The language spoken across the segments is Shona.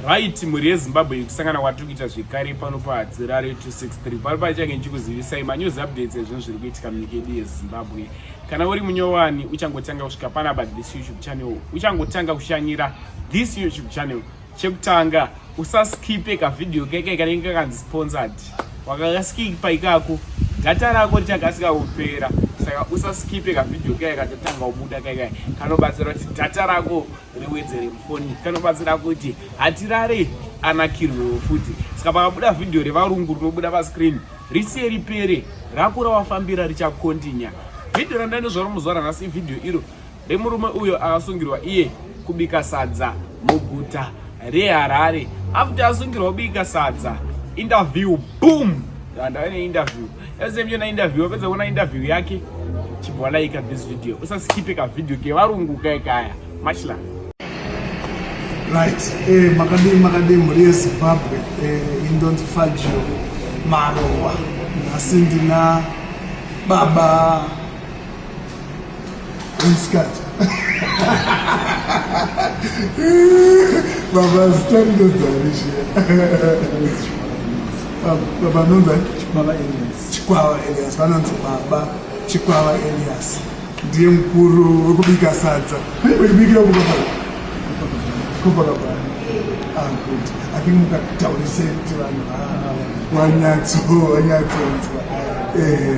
right mhuri yezimbabwe yekusangana kwatiri kuita zvekare pano pahadzirare 263 pano paichange ndichikuzivisai manews updates ezvinhu zviri kuitika munyika yedu yezimbabwe kana uri munyowani uchangotanga kusvika panapa this youtube channel uchangotanga kushanyira this youtube channel chekutanga usaskipe kavhidhiyo keke kanenge kakanzi sponsored wakakaskipa ikako data rako richakasika kupera saka usaskipe kavhidhiyo keke katatanga kubuda keke kanobatsira kuti data rako riwedzere mufoni kanobatsira kuti hatirare anakirwewo futi saka pakabuda vhidhiyo revarungu rinobuda pascreen risiye ripere rakura wafambira richakontinya vhidhiyo randainozvaro muzuva ranhasi ivhidhiyo iro remurume uyo akasungirwa iye kubika sadza muguta reharare after asungirwa kubika sadza interview boom ndandave neinterview Same yona interview wapedza kuona interview yake chibwa like this video usaskipe ka video ke varungu kai kaya much love right eh makadii makadii mhuri yezimbabwe eh, indonzi fagio marowa nhasi ndina baba Isikati. Baba zitendo dzanishi. Baba nonza Chikwava Elias. Chikwava Elias vanonzi baba Chikwava Elias. Ndiye mkuru wekubika sadza. Wekubikira kubaba. Kubaba baba. Ah good. I think mukataurise kuti vanhu ah, ah, ah. wanyatso wanyatsonzwa. Eh.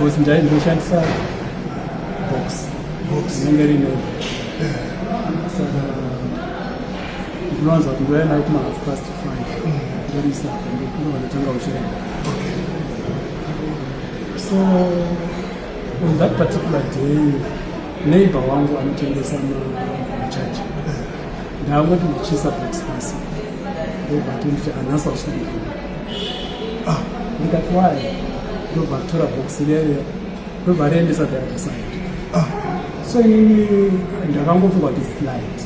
Boss ndai ndinoshandisa box box inenge rine saka ndinowanza kuti ndouya nayo kuma half past five ndorisa ndowanatanga uchirenda so on that particular day neighbor wangu anotengesa machaji ndangoti ndichisa box pasi ndobva tonditi anasa usiku ah, ndikati wayi ndobva tora bhokisi rere ndobva riendesa the other side ah, so inini ndakangofunga kuti slight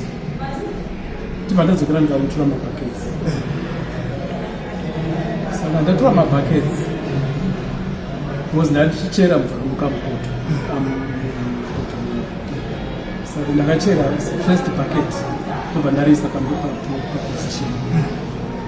ndibva ndadzokera ndikamutura mabhaketsi saka ndatura mabhaketsi because ndatichera mvura mukamukoto saka ndakachera first bucket ndobva ndariisa paposition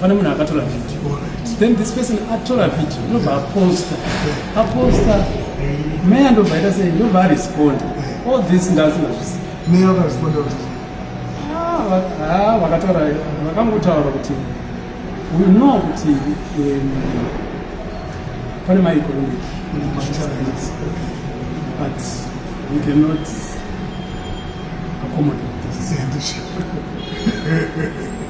pane munhu akatora video then this person atora video ndobva aposta aposta meya ndobva aita sei ndobva aresponda all this ndasingazvisi meya akaresponda kuti ah, vakataura vakangotaura kuti we know kuti um, pane maeconomic but we cannot accommodate this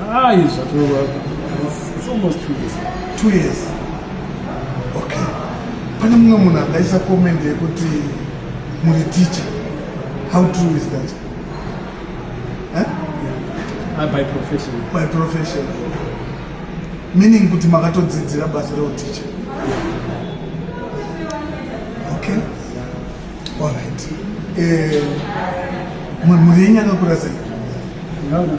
Ah, it's almost two years. Two years. Okay. Pane mumwe munhu akaisa comment yekuti muri teacher. How true is that? Huh? Yeah. Uh, by profession. By profession. Meaning kuti makatodzidzira basa reuteacher. Okay. All right. Eh, mhuri yenyu akakura sei? Ndavana 5.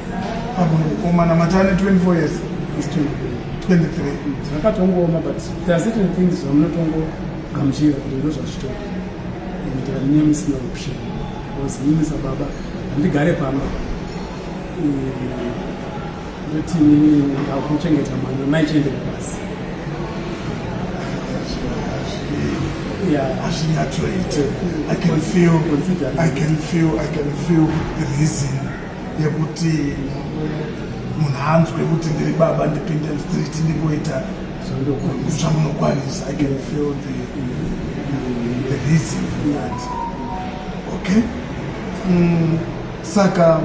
Pamwe mukomana matane 24 years is 23. Zvakatongooma but there are certain things zvamunotongogamuchira kuti ndozvazvitori and uh, nyama isina option because mimi sababa handigare pamba ndoti nini ndakuchengeta mwana mai chiendere pasi hazvinyatsoite i can feel i can feel i can feel reason yekuti munhu anzwe kuti ndiri baba ndipinde mstreet ndimboita zvamunokwanisa i can feel the, the reason for that okay mm, saka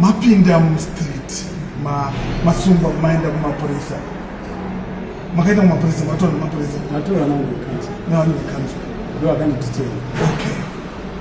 mapinda mustreet masungwa ma maenda kumapurisa makaita kumapurisa matora nemapurisa matora nawo vekanzwa nawo vekanzwa ndo akandititera okay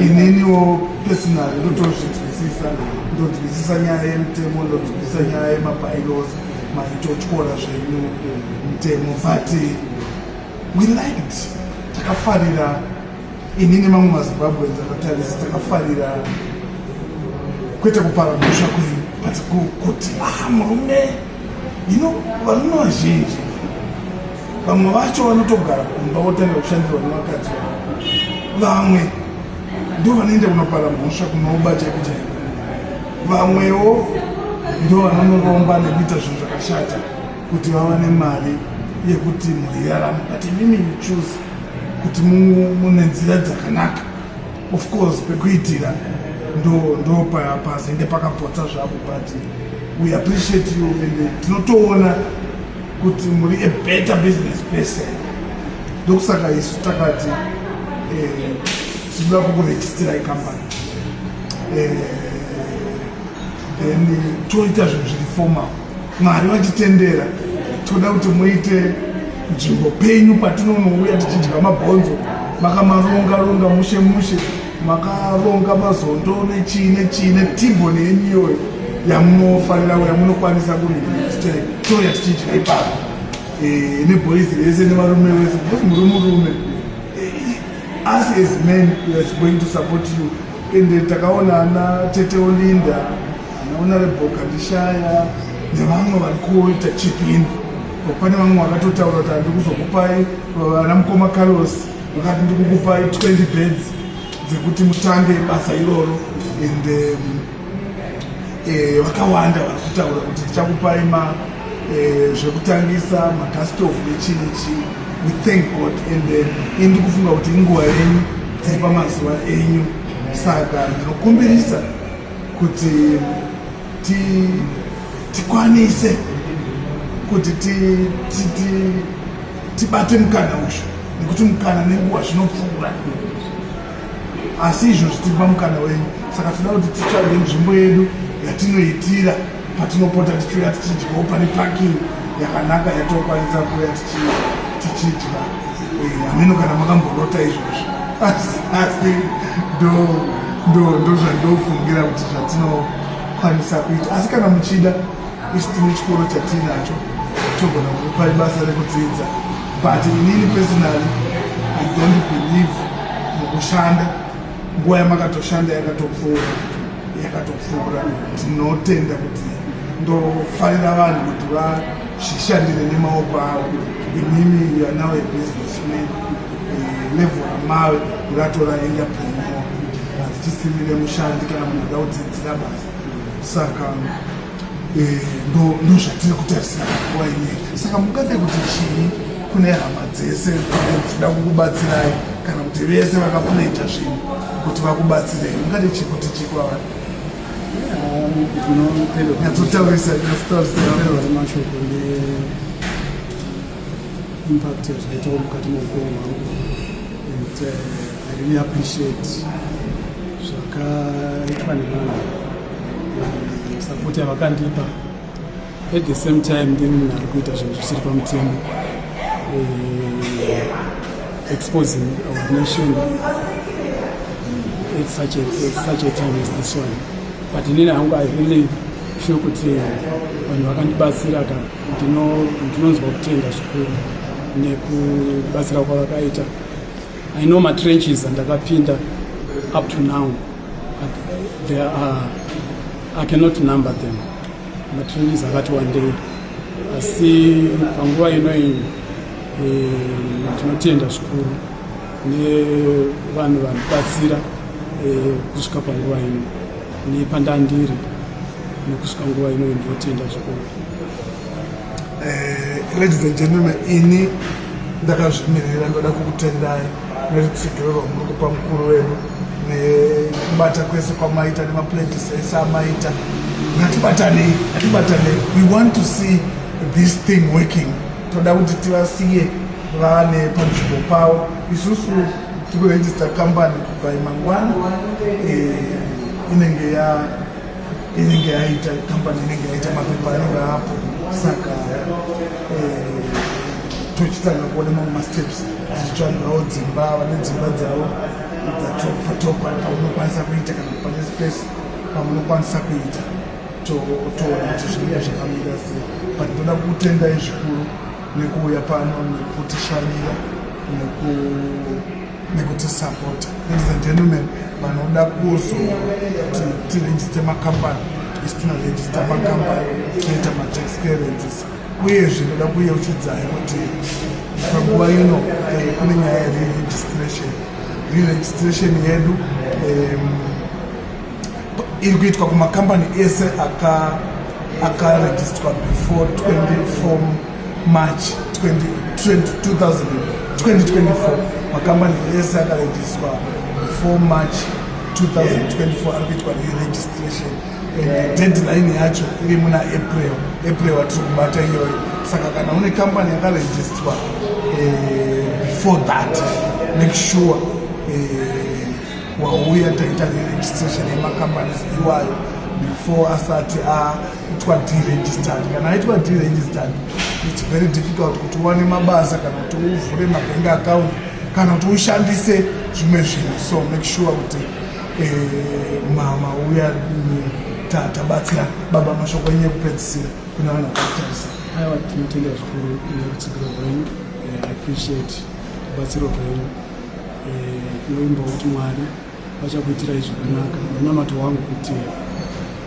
ininiwo pesinari ndotozvinzwisisa ndonzwisisa nyaya yemutemo ndonzwisisa nyaya yemabylos maitotyora zvenyu mutemo but we liked takafarira ini nemamwe mazimbabwe ndakatarisa takafarira kwete kupara mhosva kwenyu but kuti ah murume Ino varume vazhinji vamwe vacho vanotogara kumba votanga kushandirwa nevakadzi vamwe ndo vanoenda kunopara mhosva kunoobata kuja vamwewo ndo vanonoromba nekuita zvinhu zvakashata kuti vava nemari yekuti mhuri irarame but imimi muchuzi kuti mune nzira dzakanaka Of course pekuitira ndo ndo pazenge pakapotsa zvapo but we appreciate you and tinotoona kuti muri a better business person ndokusaka isu takati eh, tinoda eh, kukuregistira icompany eh, then toita zvinhu zviri formal Mwari vatitendera toda kuti muite nzvimbo penyu patinonouya tichidya mabhonzo makamaronga ronga mushe mushe makaronga mazondo nechii nechii netimbo neyemiyoyo yamunofanira yamunokwanisa kutoya tichidya ipapo eh, neboizi rese nevarume vese because muri murume eh, us as men we are going to support you ende takaona ana tete olinda anaona reboka ndishaya nevamwe vari kuita chipini pane vamwe vakatotaura kuti handi kuzokupai vana mukoma carlos vakati ndi kukupai 20 beds dzekuti mutange basa iroro ende eh, vakawanda vari kutaura kuti tichakupai ma Eh, zvekutangisa makastof nechii nechii we thank god and then eh, indi kufunga kuti inguva yenyu dziri pamazuva enyu saka ndinokumbirisa kuti tikwanise kuti tibate mukana uzvo nekuti mukana nenguva zvinopfuura asi izvozvi tiri pamukana wenyu saka tinoda kuti titsvage nzvimbo yedu yatinoitira patinopota tichiuya tichidyawo pane parking yakanaka yatokwanisa kuuya tichidya hameno kana makamborota izvozvo asi ndozvandofungira kuti zvatinokwanisa kuita asi kana muchida isi tine chikoro chatiinacho togona kupa ibasa rekudzidza but inini personally i don't believe mukushanda nguva yamakatoshanda yakatopfuura yakatopfuura tinotenda kuti ndofarira vanhu kuti vazvishandire nemaoko avo imimi yanawe businessman eh, level ramave ratora enterpreneur hazichisirire mushandi kana munhu da kudzidzira basa saka eh, ndozvatiri kutarisira nguva ineyi saka mungade kuti chii kune hama dzese dzinoda kukubatsirai kana kuti vese vakakunoita zvinhu kuti vakubatsirei mungade chii kuti chii kwavari nyatsotaurisa mashoko neimpact yazvaitawo mukati meupenyu hwangu and uh, i really appreciate zvakaitwa nevanhu sapoti yavakandipa at the same time ndi munhu ari kuita zvinhu zvisiri pamutemo eh, exposing our nation at such a, at such a time as this one but inini hangu i really feel kuti vanhu vakandibatsira ka ndinonzwa kutenda zvikuru nekubatsira kwavakaita i know matrenches andakapinda up to now There are, I cannot number them. Matrainees akati wandei asi panguva ino iyi eh, tinotenda zvikuru nevanhu vanobatsira eh, kusvika panguva ino nepandandiri nekusvika nguva ino iyi ndinotenda zvikuru eh, ladies and gentlemen ini ndakazvimirira ndoda kukutendai nerutsigiro rwamuri kupa mukuru wedu nekubata kwese kwamaita nemaplantis ese amaita ngatibatanei ngatibatanei we want to see this thing working toda kuti tivasiye vane panzvimbo pavo isusu tikuregister company by mangwana eh, inenge ya inenge yaita company inenge yaita mapepa anenge apo saka eh, tochitanga kuona mamwe masteps tichitsvagawo dzimba vane dzimba dzavo dzatopatopa paunokwanisa kuita kana pane space pamunokwanisa kuita toona kuti zvinenge zvakamira sei but ndoda kutendai zvikuru nekuuya pano nekutishanyira nekutisapota ladies and gentlemen vanoda kuzoti tirejiste makambani isi tinorejista makambani tinoita matax clearances uyezve ndoda kuyeuchidzai kuti panguva ino eh, kune nyaya yereregistration reregistration yedu um, iri kuitwa kumakambani ese akarejistwa aka before 24 march 2024 makambani ese akarejistwa before march 2024 ari kuitwa reregistration and deadline yacho iri muna april april atiri kubata iyoyo saka kana une kambani yakarejistwa eh, before that make sure eh, wauya taita reregistration yemacompanies iwayo before asati aitwa deregistered kana aitwa deregistered its very difficult kuti uwane mabasa kana kuti uvhure mabank account kana kuti ushandise zvimwe zvinhu so make sure kuti eh, mama uya tabatsira baba mashoko enye kupedzisira kuna vanhu vakatarisa aiwa tinotenda zvikuru nerutsigiro rwenyu eh, appreciate rubatsiro rwenyu tinoimba kuti mwari vachakuitirai zvakanaka munamato wangu kuti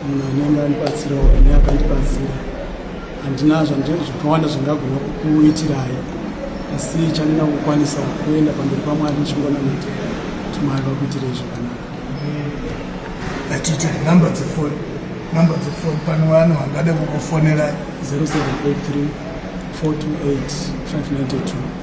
munhu anenge andibatsirawo ane akandibatsira handina zvakawanda zvangagona kukuitirai asi chandina kukwanisa kuenda pamberi pamwari ndichingona mati kuti mwari vakuitirei zvakanaka atiti number dzefoni number dzefoni pane vanhu vangade kukufonera 0783 428 592